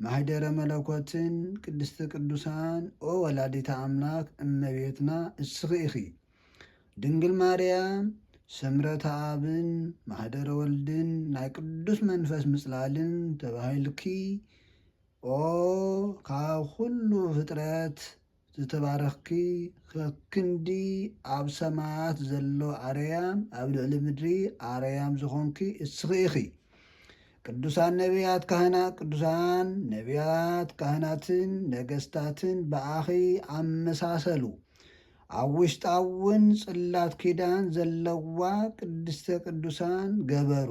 ማኅደረ መለኮትን ቅድስተ ቅዱሳን ኦ ወላዲተ ኣምላክ እመቤትና እስኺ ኢኺ። ድንግል ማርያም ሠምረተ ኣብን ማኅደረ ወልድን ናይ ቅዱስ መንፈስ ምጽላልን ተባሂልኪ ኦ ካብ ኹሉ ፍጥረት ዝተባረኽኪ ከክንዲ ኣብ ሰማያት ዘሎ ኣርያም ኣብ ልዕሊ ምድሪ ኣርያም ዝኾንኪ እስኺ ኢኺ። ቅዱሳን ነቢያት ካህናት ቅዱሳን ነቢያት ካህናትን ነገስታትን ብኣኺ ኣመሳሰሉ። ኣብ ውሽጣ እውን ጽላት ኪዳን ዘለዋ ቅድስተ ቅዱሳን ገበሩ።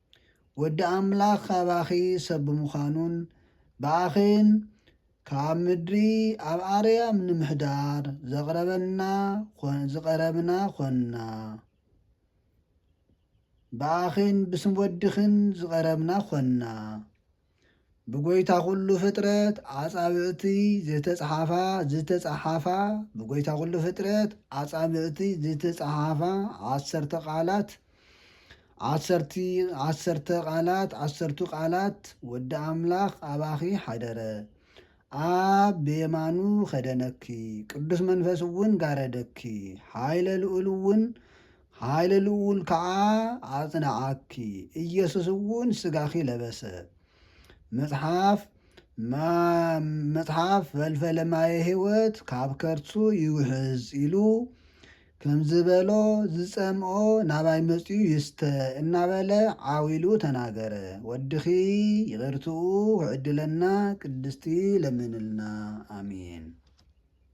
ወዲ ኣምላኽ ኣባኺ ሰብ ብምዃኑን ብኣኺን ካብ ምድሪ ኣብ ኣርያም ንምሕዳር ዘቕረበና ዝቐረብና ዀንና። ብኣኺን ብስም ወድኺን ዝቐረብና ዀንና። ብጎይታ ኩሉ ፍጥረት ኣጻብዕቲ ዝተጽሓፋ ዝተጸሓፋ ብጎይታ ኩሉ ፍጥረት ኣጻብዕቲ ዝተጸሓፋ ዓሰርተ ቃላት ዓሰርቲ ዓሰርተ ቃላት ዓሰርቱ ቃላት ወዲ ኣምላኽ ኣባኺ ሓደረ ኣብ ብየማኑ ኸደነኪ ቅዱስ መንፈስ እውን ጋረደኪ ሓይለ ልኡል እውን ኃይለ ልዑል ከዓ ኣጽንዓኪ፣ ኢየሱስ እውን ሥጋኺ ለበሰ። መጽሓፍ መጽሓፍ ፈልፈለ ማየ ሕይወት ካብ ከርሱ ይውሕዝ ኢሉ ከምዝበሎ ዝጸምኦ ናባይ መጺኡ ይስተ እናበለ ዓው ኢሉ ተናገረ። ወድኺ ይቕርትኡ ክዕድለና ቅድስቲ ለምንልና። ኣሜን።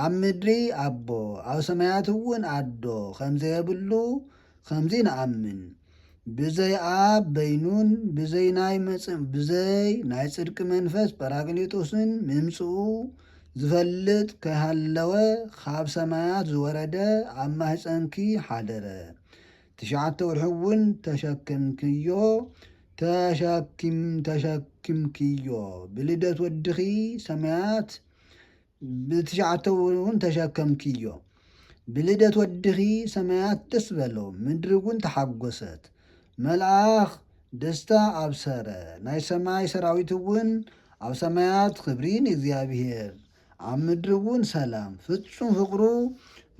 ኣብ ምድሪ ኣቦ ኣብ ሰማያት እውን ኣዶ ከምዘየብሉ ከምዚ ንኣምን ብዘይ ኣብ በይኑን ብዘይ ናይ መጽ ብዘይ ናይ ጽድቂ መንፈስ ጰራቅሊጦስን ምምጽኡ ዝፈልጥ ከይሃለወ ካብ ሰማያት ዝወረደ ኣብ ማህፀንኪ ሓደረ ትሽዓተ ወርሒ እውን ተሸክምክዮ ተሸኪም ተሸኪምክዮ ብልደት ወድኺ ሰማያት ብትሽዓተ እውን ተሸከምክዮ። ብልደት ወድኺ ሰማያት ደስ በሎ፣ ምድሪ እውን ተሓጐሰት፣ መልኣኽ ደስታ ኣብሰረ፣ ናይ ሰማይ ሰራዊት እውን ኣብ ሰማያት ኽብሪ ንእግዚኣብሄር፣ ኣብ ምድሪ እውን ሰላም፣ ፍጹም ፍቕሩ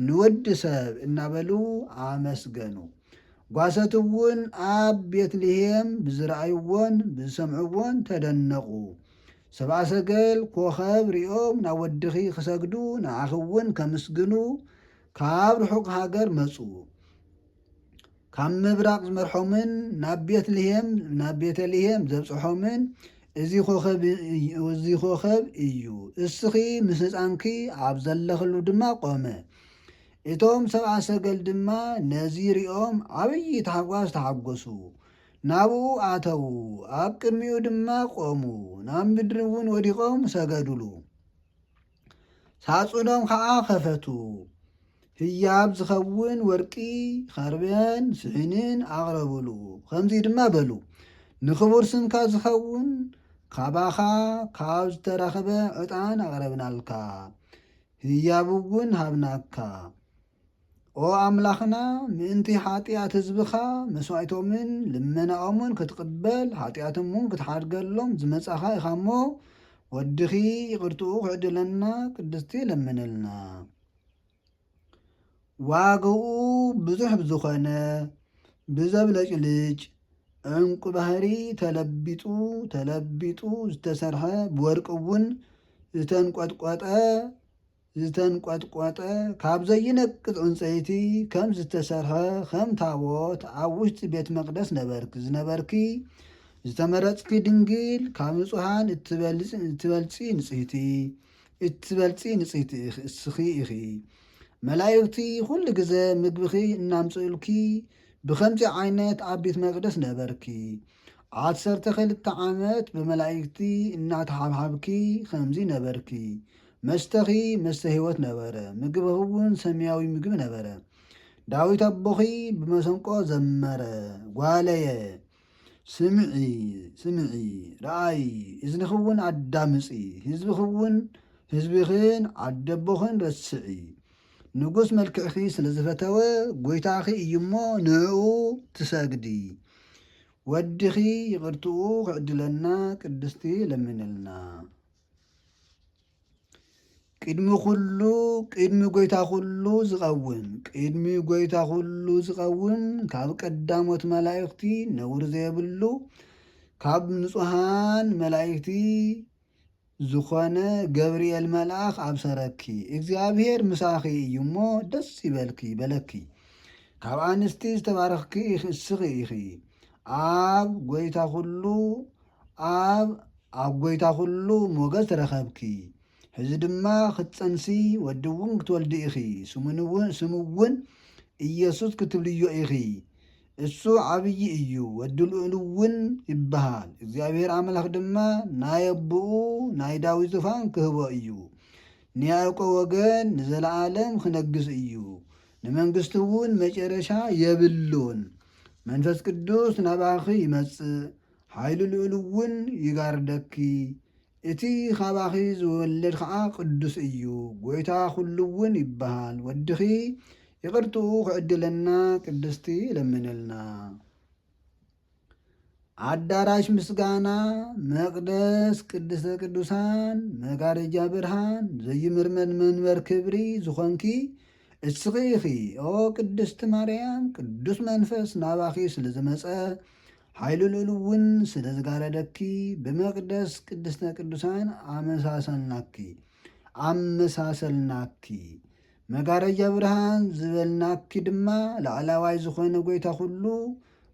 ንወዲ ሰብ እናበሉ ኣመስገኑ። ጓሶት እውን ኣብ ቤት ልሄም ብዝረኣይዎን ብዝሰምዕዎን ተደነቑ። ሰብኣ ሰገል ኮኸብ ሪኦም ናብ ወድኺ ክሰግዱ ንዓኺ እውን ከምስግኑ ካብ ርሑቕ ሃገር መጹ። ካብ ምብራቕ ዝመርሖምን ናብ ቤትልሄም ናብ ቤተልሄም ዘብጽሖምን እዚ ኮኸብ እዚ ኮኸብ እዩ። እስኺ ምስ ህጻንኪ ኣብ ዘለኽሉ ድማ ቆመ። እቶም ሰብኣ ሰገል ድማ ነዚ ሪኦም ዓብዪ ታሕጓስ ተሓጎሱ። ናብኡ ኣተዉ፣ ኣብ ቅድሚኡ ድማ ቈሙ፣ ናብ ምድሪ እውን ወዲቖም ሰገዱሉ። ሳጹኖም ኸኣ ኸፈቱ፣ ህያብ ዝኸውን ወርቂ፣ ኸርበን ስሒንን ኣቕረቡሉ፣ ኸምዚ ድማ በሉ፣ ንኽቡር ስምካ ዝኸውን ኻባኻ ኻብ ዝተረኽበ ዕጣን ኣቕረብናልካ፣ ህያብ እውን ሃብናካ። ኦ ኣምላኽና ምእንቲ ሓጢኣት ህዝብኻ መስዋእቶምን ልመናኦምን ክትቕበል ሓጢኣቶምውን ክትሓድገሎም ዝመጻኻ ኢኻ እሞ ወድኺ ይቕርትኡ ክዕድለና ቅድስቲ ለምንልና ዋግኡ ብዙሕ ብዝኾነ ብዘብለጭልጭ ዕንቁ ባህሪ ተለቢጡ ተለቢጡ ዝተሰርሐ ብወርቂ እውን ዝተንቆጥቆጠ ዝተንቆጥቆጠ ካብ ዘይነቅጽ ዕንጸይቲ ከም ዝተሰርሐ ከም ታቦት ኣብ ውሽጢ ቤት መቅደስ ነበርኪ ዝነበርኪ ዝተመረጽኪ ድንግል ካብ ንጹሃን እትበልጺ ንጽህቲ እትበልጺ ንጽህቲ እስኺ ኢኺ መላእክቲ ኩሉ ግዘ ምግብኺ እናምጽኡልኪ ብከምዚ ዓይነት ኣብ ቤት መቅደስ ነበርኪ ዓሰርተ ክልተ ዓመት ብመላኢክቲ እናተሓብሓብኪ ኸምዚ ነበርኪ። መስተኺ መስተ ህይወት ነበረ፣ ምግብኺውን ሰማያዊ ምግቢ ነበረ። ዳዊት ኣቦኺ ብመሰንቆ ዘመረ፣ ጓለየ፣ ስምዒ፣ ስምዒ፣ ረኣዪ፣ እዝንኺውን ኣዳምጺ፣ ህዝብኺውን ህዝብኽን ዓደቦኽን ረስዒ። ንጉስ መልክዕኺ ስለ ዝፈተወ ጐይታኺ እዩ እሞ ንእኡ ትሰግዲ። ወድኺ ይቕርትኡ ክዕድለና ቅድስቲ ለምንልና። ቅድሚ ኩሉ ቅድሚ ጐይታ ኩሉ ዝቐውም ቅድሚ ጐይታ ኩሉ ዝቐውም ካብ ቀዳሞት መላእኽቲ ነውሪ ዘየብሉ ካብ ንጹሃን መላእኽቲ ዝኾነ ገብርኤል መልኣኽ ኣብሰረኪ እግዚኣብሄር ምሳኺ እዩ እሞ ደስ ይበልኪ በለኪ ካብ ኣንስቲ ዝተባረኽኪ እስኺ ኢኺ ኣብ ጎይታ ኩሉ ኣብ ኣብ ጎይታ ኩሉ ሞገስ ረኸብኪ ሕዚ ድማ ክትፀንሲ ወዲ እውን ክትወልዲ ኢኺ ስሙ እውን ኢየሱስ ክትብልዮ ኢኺ እሱ ዓብዪ እዩ፣ ወዲ ልኡል እውን ይበሃል፣ እግዚኣብሄር ኣምላኽ ድማ ናይ ኣቦኡ ናይ ዳዊት ዙፋን ክህቦ እዩ፣ ንያእቆብ ወገን ንዘለኣለም ኽነግስ እዩ፣ ንመንግስቱ እውን መጨረሻ የብሉን። መንፈስ ቅዱስ ናባኺ ይመጽእ፣ ሓይሊ ልኡል እውን ይጋርደኪ፣ እቲ ኻባኺ ዝወለድ ኸኣ ቕዱስ እዩ፣ ጐይታ ዅሉውን ይበሃል። ወድኺ ይቕርትኡ ኺዕድለና ቅድስቲ ለምንልና። ኣዳራሽ ምስጋና፣ መቕደስ ቅድስተ ቅዱሳን፣ መጋረጃ ብርሃን፣ ዘይምርመድ መንበር ክብሪ ዝኾንኪ እስኺ ኢኺ። ኦ ቅድስቲ ማርያም፣ ቅዱስ መንፈስ ናባኺ ስለ ዝመጸ፣ ሓይሉ ልኡል እውን ስለ ዝጋረደኪ ብመቅደስ ቅድስተ ቅዱሳን ኣመሳሰልናኪ ኣመሳሰልናኪ መጋረጃ ብርሃን ዝበልናኪ ድማ ላዕላዋይ ዝኾነ ጎይታ ኩሉ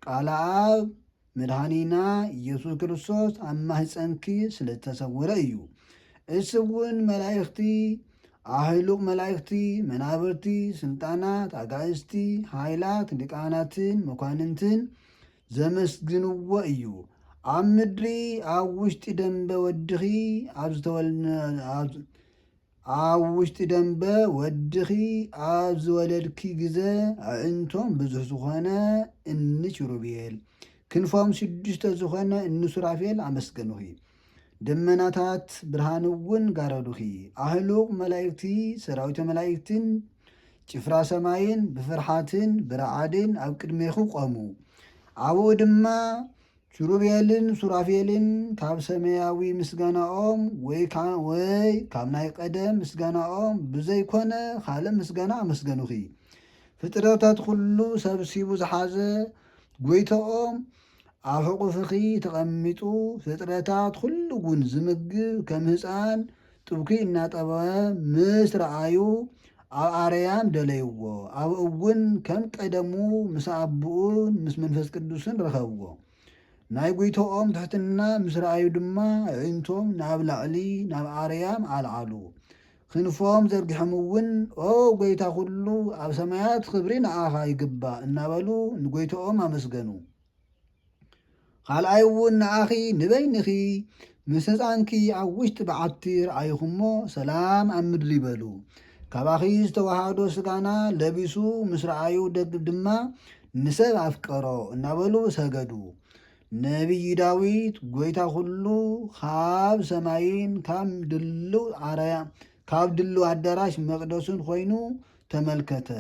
ቃል ኣብ መድኃኒና ኢየሱስ ክርስቶስ ኣብ ማህፀንኪ ስለ ዝተሰወረ እዩ። እሱ እውን መላእኽቲ ኣህሉቕ መላእኽቲ መናብርቲ ስልጣናት ኣጋእዝቲ ሃይላት ሊቃናትን መኳንንትን ዘመስግንዎ እዩ። ኣብ ምድሪ ኣብ ውሽጢ ደንበ ወድኺ ኣብ ዝተወልነ ኣብ ውሽጢ ደንበ ወድኺ ኣብ ዝወለድኪ ግዘ ኣዒንቶም ብዙሕ ዝኾነ እኒ ኪሩቤል ክንፎም ሽዱሽተ ዝኾነ እኒ ሱራፌል ኣመስገኑኺ። ደመናታት ብርሃን እውን ጋረዱኺ፣ ኣህሉቕ መላእክቲ፣ ሰራዊተ መላእክትን ጭፍራ ሰማይን ብፍርሓትን ብረዓድን ኣብ ቅድሜኺ ቆሙ። ኣብኡ ድማ ኪሩቤልን ሱራፌልን ካብ ሰማያዊ ምስጋናኦም ወይ ካብ ናይ ቀደም ምስጋናኦም ብዘይኮነ ካልእ ምስጋና ኣመስገኑኺ። ፍጥረታት ኩሉ ሰብሲቡ ዝሓዘ ጐይታኦም ኣብ ሕቑፍኺ ተቐሚጡ ፍጥረታት ኹሉ ጉን ዝምግብ ከም ህፃን ጥብኪ እናጠበወ ምስ ረኣዩ ኣብ ኣረያም ደለይዎ ኣብ እውን ከም ቀደሙ ምስ ኣቡኡን ምስ መንፈስ ቅዱስን ረኸብዎ ናይ ጉይቶኦም ትሕትና ምስ ረኣዩ ድማ ኣዒንቶም ናብ ላዕሊ ናብ ኣረያም ኣልዓሉ ክንፎም ዘርጊሖም እውን ኦ ጐይታ ዅሉ፣ ኣብ ሰማያት ኽብሪ ንኣኻ ይግባእ እናበሉ ንጐይትኦም ኣመስገኑ። ኻልኣይ እውን ንኣኺ ንበይንኺ ምስ ህጻንኪ ኣብ ውሽጢ በዓቲ ረኣይኹ እሞ ሰላም ኣብ ምድሪ በሉ። ካባኺ ዝተወሃዶ ስጋና ለቢሱ ምስ ረኣዩ ድማ ንሰብ ኣፍቀሮ እናበሉ ሰገዱ። ነቢይ ዳዊት ጎይታ ኩሉ ካብ ሰማይን ካብ ድልው ዓረያ ካብ ድልው ኣዳራሽ መቅደሱን ኮይኑ ተመልከተ።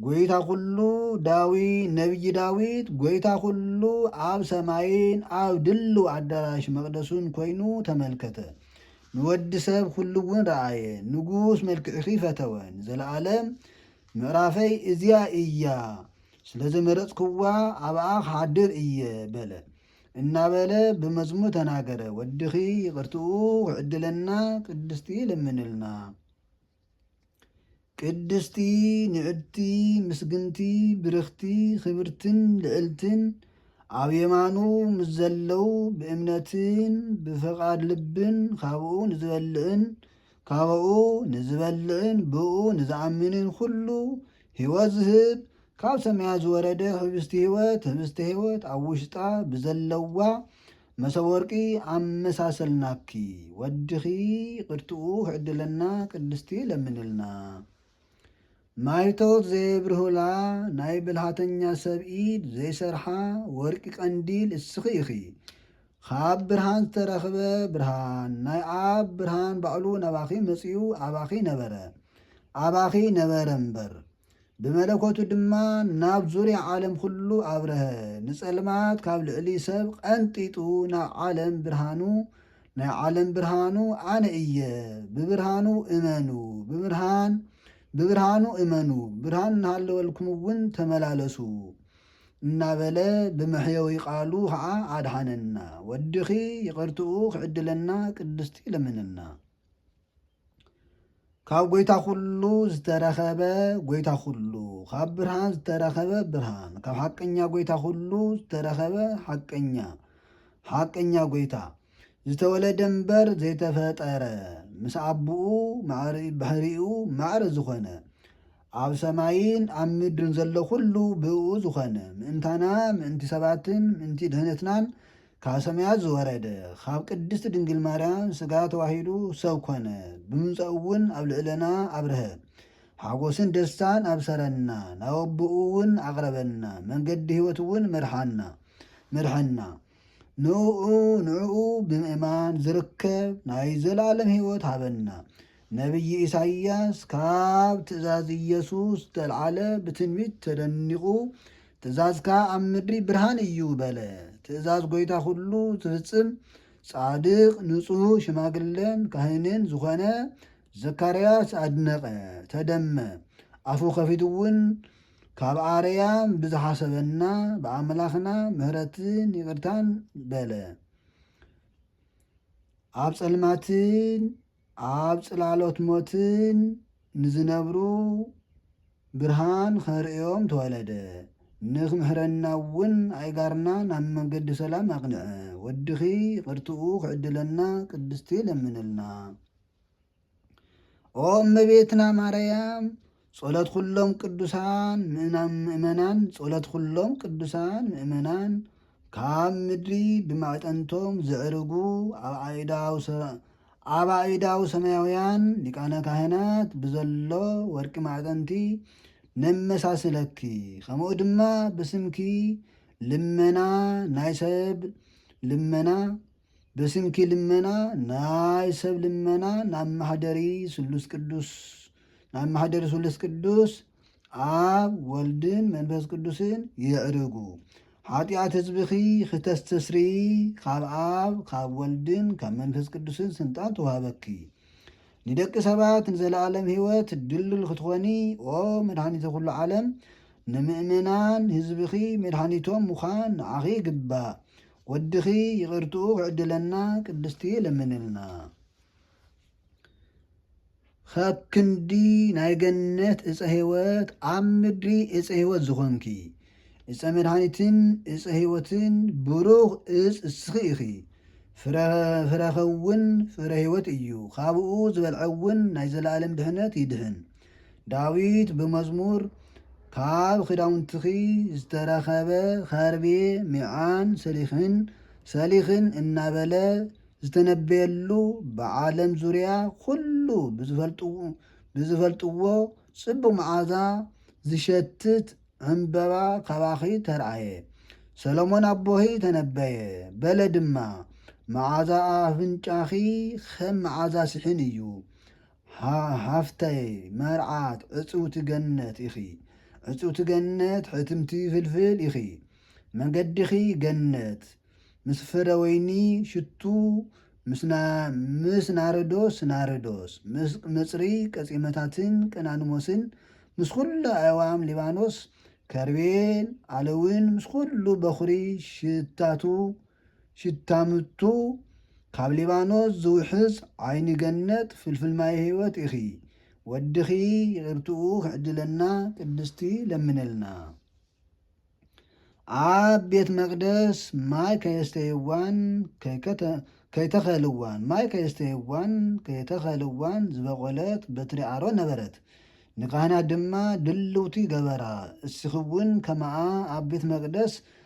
ጎይታ ኩሉ ዳዊ ነቢይ ዳዊት ጎይታ ኩሉ ኣብ ሰማይን ኣብ ድልው ኣዳራሽ መቅደሱን ኮይኑ ተመልከተ። ንወዲ ሰብ ኩሉ እውን ረኣየ፣ ንጉስ መልክዕኺ ፈተወ፣ ንዘለኣለም ምዕራፈይ እዚኣ እያ፣ ስለ ዝመረጽክዋ ኣብኣ ክሓድር እየ በለ። እናበለ ብመዝሙር ተናገረ። ወድኺ ይቕርትኡ ክዕድለና ቅድስቲ ለምንልና። ቅድስቲ ንዕድቲ ምስግንቲ ብርኽቲ ክብርትን ልዕልትን ኣብ የማኑ ምስ ዘለው ብእምነትን ብፍቓድ ልብን ካብኡ ንዝበልዕን ካብኡ ንዝበልዕን ብእኡ ንዝኣምንን ዅሉ ህይወት ዝህብ፣ ካብ ሰማያት ዝወረደ ኅብስቲ ህይወት፣ ኅብስተ ህይወት ኣብ ውሽጣ ብዘለዋ መሶብ ወርቂ ኣመሳሰልናኪ። ወድኺ ይቅርትኡ ክዕድለና ቅድስቲ ለምንልና። ማይቶት ዘየብርሁላ ናይ ብልሃተኛ ሰብ ኢድ ዘይሰርሓ ወርቂ ቀንዲል እስኺ ኢኺ። ካብ ብርሃን ዝተረኽበ ብርሃን ናይ ኣብ ብርሃን ባዕሉ ናባኺ መጺኡ ኣባኺ ነበረ ኣባኺ ነበረ እምበር ብመለኮቱ ድማ ናብ ዙሪያ ዓለም ኩሉ ኣብረሀ ንጸልማት ካብ ልዕሊ ሰብ ቐንጢጡ ናብ ዓለም ብርሃኑ ናይ ዓለም ብርሃኑ ኣነ እየ ብብርሃኑ እመኑ ብብርሃን ብብርሃኑ እመኑ ብርሃን እናሃለወልኩም እውን ተመላለሱ እናበለ ብመሕየዊ ቃሉ ኸዓ ኣድሓነና። ወድኺ ይቕርትኡ ክዕድለና ቅድስቲ ለምንልና። ካብ ጐይታ ዅሉ ዝተረኸበ ጐይታ ዅሉ፣ ካብ ብርሃን ዝተረኸበ ብርሃን፣ ካብ ሓቀኛ ጐይታ ዅሉ ዝተረኸበ ሓቀኛ ሓቀኛ ጐይታ ዝተወለደ እምበር ዘይተፈጠረ ምስ ኣቦኡ ማዕሪ ባህሪኡ ማዕረ ዝኾነ ኣብ ሰማይን ኣብ ምድርን ዘሎ ዅሉ ብእኡ ዝዀነ፣ ምእንታና፣ ምእንቲ ሰባትን ምእንቲ ድኅነትናን ካብ ሰማያት ዝወረደ፣ ኻብ ቅድስቲ ድንግል ማርያም ሥጋ ተዋሂዱ ሰብ ኰነ፣ ብምምጻኡ'ውን ኣብ ልዕለና ኣብርሀ፣ ሓጐስን ደስታን ኣብሠረና፣ ናብ ኣቦኡ'ውን ኣቕረበና፣ መንገዲ ሕይወት'ውን መርሓና፣ መርሐና። ንእኡ፣ ንእኡ ብምእማን ዚርከብ ናይ ዘለዓለም ሕይወት ሃበና። ነብዪ ኢሳይያስ ካብ ትእዛዝ ኢየሱስ ዝተልዓለ ብትንቢት ተደኒቑ ትእዛዝካ ኣብ ምድሪ ብርሃን እዩ በለ። ትእዛዝ ጐይታ ዅሉ ዝፍጽም ጻድቕ ንጹሕ ሽማግለን ካህንን ዝዀነ ዘካርያስ ኣድነቐ፣ ተደመ። ኣፉ ከፊቱውን ካብ ኣርያም ብዝሓሰበና ብኣምላኽና ምሕረትን ይቕርታን በለ። ኣብ ጸልማትን ኣብ ጽላሎት ሞትን ንዝነብሩ ብርሃን ኸርእዮም ተወለደ። ንክምሕረናውን ኣእጋርና ናብ መንገዲ ሰላም ኣቕንዐ። ወድኺ ይቕርትኡ ክዕድለና ቅድስቲ ለምንልና። ኦ እመቤትና ማረያም ጸሎት ዅሎም ቅዱሳን ምእመናን ጸሎት ዅሎም ቅዱሳን ምእመናን ካብ ምድሪ ብማዕጠንቶም ዘዕርጉ ኣብ ኣእዳው ኣብ ኣእዳው ሰማያውያን ሊቃነ ካህናት ብዘሎ ወርቂ ማዕጠንቲ ነመሳስለኪ ከምኡ ድማ ብስምኪ ልመና ናይ ሰብ ልመና ብስንኪ ልመና ናይ ሰብ ልመና ናብ ማሕደሪ ስሉስ ቅዱስ ናብ ማሕደሪ ስሉስ ቅዱስ ኣብ ወልድን መንፈስ ቅዱስን ይዕርጉ ሓጢኣት ህዝብኺ ክተስተስሪ ካብ ኣብ ካብ ወልድን ካብ መንፈስ ቅዱስን ስልጣን ተዋህበኪ ንደቂ ሰባት ንዘለኣለም ህይወት ድልዱል ክትኾኒ ኦ መድሃኒተ ኩሉ ዓለም ንምእመናን ህዝብኺ መድሃኒቶም ምዃን ንዓኺ ይግባእ ወድኺ ይቅርትኡ ክዕድለና ቅድስቲ ለምንልና ኻብ ክንዲ ናይ ገነት እፀ ህይወት ኣብ ምድሪ እፀ ህይወት ዝኾንኪ እፀ መድሃኒትን እፀ ህይወትን ብሩኽ እፅ እስኺ ኢኺ ፍረኸውን ፍረ ህይወት እዩ ኻብኡ ዝበልዐውን ናይ ዘለኣለም ድሕነት ይድህን ዳዊት ብመዝሙር ካብ ኽዳውንትኺ ዝተረኸበ ኸርቤ ሚዓን ሰሊኽን ሰሊኽን እናበለ ዝተነበየሉ ብዓለም ዙርያ ኹሉ ብዝፈልጥዎ ፅቡቕ መዓዛ ዝሸትት ዕምበባ ካባኺ ተርኣየ። ሰሎሞን ኣቦኺ ተነበየ በለ ድማ መዓዛ ኣፍንጫኺ ኸም መዓዛ ስሒን እዩ፣ ሓፍተይ መርዓት ዕጽውቲ ገነት ኢኺ ዕጽውቲ ገነት ሕትምቲ ፍልፍል ኢኺ መገዲኺ ገነት ምስ ፍረወይኒ ሽቱ ምስ ናርዶስ ናርዶስ ምስ ቅምጽሪ ቀጺመታትን ቀናንሞስን ምስ ኩሉ ኣእዋም ሊባኖስ ከርቤን ኣለውን ምስ ኩሉ በኹሪ ሽታቱ ሽታ ምቱ ካብ ሊባኖስ ዝውሕዝ ዓይኒ ገነት ፍልፍል ማይ ህይወት ኢኺ ወድኺ ይቅርትኡ ክዕድለና ቅድስቲ ለምነልና ኣብ ቤት መቅደስ ማይ ከየስተይዋን ከይተኸልዋን ማይ ከየስተይዋን ከይተኸልዋን ዝበቆለት በትሪ ኣሮን ነበረት ንካህናት ድማ ድልውቲ ገበራ እስኺ እውን ከማኣ ኣብ ቤት መቅደስ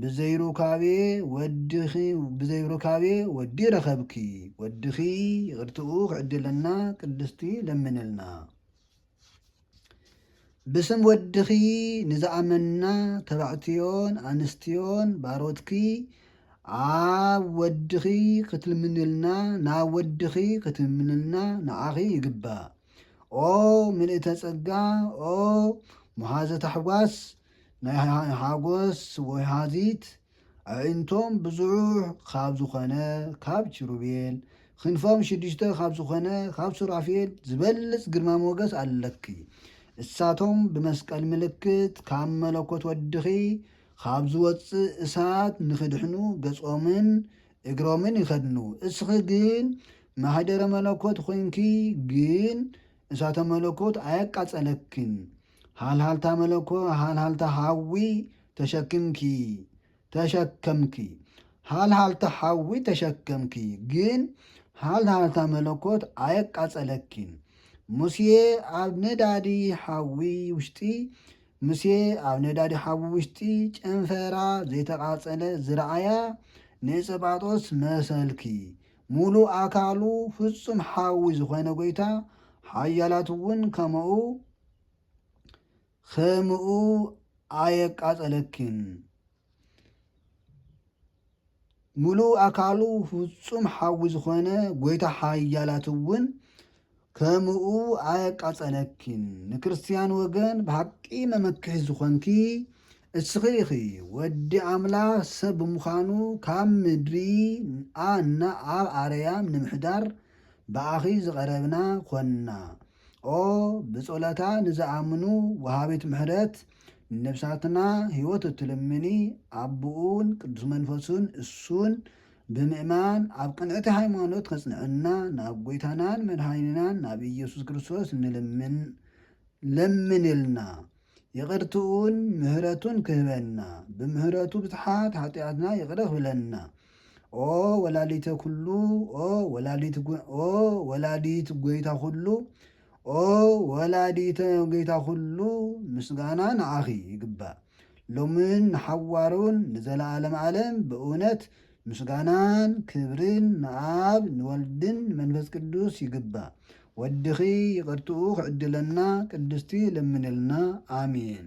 ብዘይ ሩካቤ ወድኺ ብዘይ ሩካቤ ወዲ ረኸብኪ ወድኺ ይቅርትኡ ክዕድለና ቅድስቲ ለምንልና ብስም ወድኺ ንዝኣመና ተባዕትዮን ኣንስትዮን ባሮትኪ ኣብ ወድኺ ክትልምንልና ናብ ወድኺ ክትልምንልና ንዓኺ ይግባእ ኦ ምልእተ ጸጋ ኦ መሃዘ ታሕጓስ ናይ ሓጎስ ወይሃዚት ኣዒንቶም ብዙሕ ኻብ ዝኾነ ኻብ ኪሩቤል፣ ኽንፎም ሽዱሽተ ኻብ ዝኾነ ኻብ ሱራፌል ዚበልጽ ግርማ ሞገስ ኣለኪ። እሳቶም ብመስቀል ምልክት ካብ መለኮት ወድኺ ኻብ ዚወጽእ እሳት ንኺድሕኑ ገጾምን እግሮምን ይኸድኑ። እስኺ ግን ማኅደረ መለኮት ኾይንኪ ግን እሳተ መለኮት ኣየቃጸለክን። ሃልሃልታ መለኮ ሃልሃልታ ሓዊ ተሸክምኪ ተሸከምኪ ሃልሃልታ ሓዊ ተሸከምኪ ግን ሃልሃልታ መለኮት ኣየቃጸለኪን ሙሴ ኣብ ነዳዲ ሓዊ ውሽጢ ሙሴ ኣብ ነዳዲ ሓዊ ውሽጢ ጨንፈራ ዘይተቓጸለ ዝረኣያ ንእፀጳጦስ መሰልኪ ምሉእ ኣካሉ ፍጹም ሓዊ ዝኾነ ጎይታ ሓያላት እውን ከመኡ ከምኡ ኣየቃጸለኪን ምሉእ ኣካሉ ፍጹም ሓዊ ዝኾነ ጎይታ ሓያላት እውን ከሙኡ ኣየቃጸለኪን ንክርስትያን ወገን ብሓቂ መመክሒ ዝኮንኪ እስኺ ኢኺ ወዲ ኣምላኽ ሰብ ብምዃኑ ካብ ምድሪ ኣ እና ኣብ ኣረያም ንምሕዳር ብኣኺ ዝቀረብና ኮና ኦ ብጾሎታ ንዝኣምኑ ወሃቢት ምሕረት ንነብሳትና ሂወት እትልምኒ ኣቡኡን ቅዱስ መንፈሱን እሱን ብምእማን ኣብ ቅንዕቲ ሃይማኖት ከጽንዐና ናብ ጎይታናን መድኃኒናን ናብ ኢየሱስ ክርስቶስ ንልምን ለምንልና ይቅርትኡን ምህረቱን ክህበና ብምህረቱ ብዝሓት ሓጢኣትና ይቅረ ክብለና ኦ ወላዲተ ኩሉ ኦ ወላዲት ጎይታ ኩሉ ኦ ወላዲተ ጎይታ ኩሉ ምስጋና ንዓኺ ይግባእ ሎምን ንሓዋሩን ንዘለዓለም ዓለም ብእውነት ምስጋናን ክብርን ንኣብ ንወልድን ንመንፈስ ቅዱስ ይግባእ ወድኺ ይቅርትኡ ክዕድለና ቅድስቲ ለምንልና ኣሜን።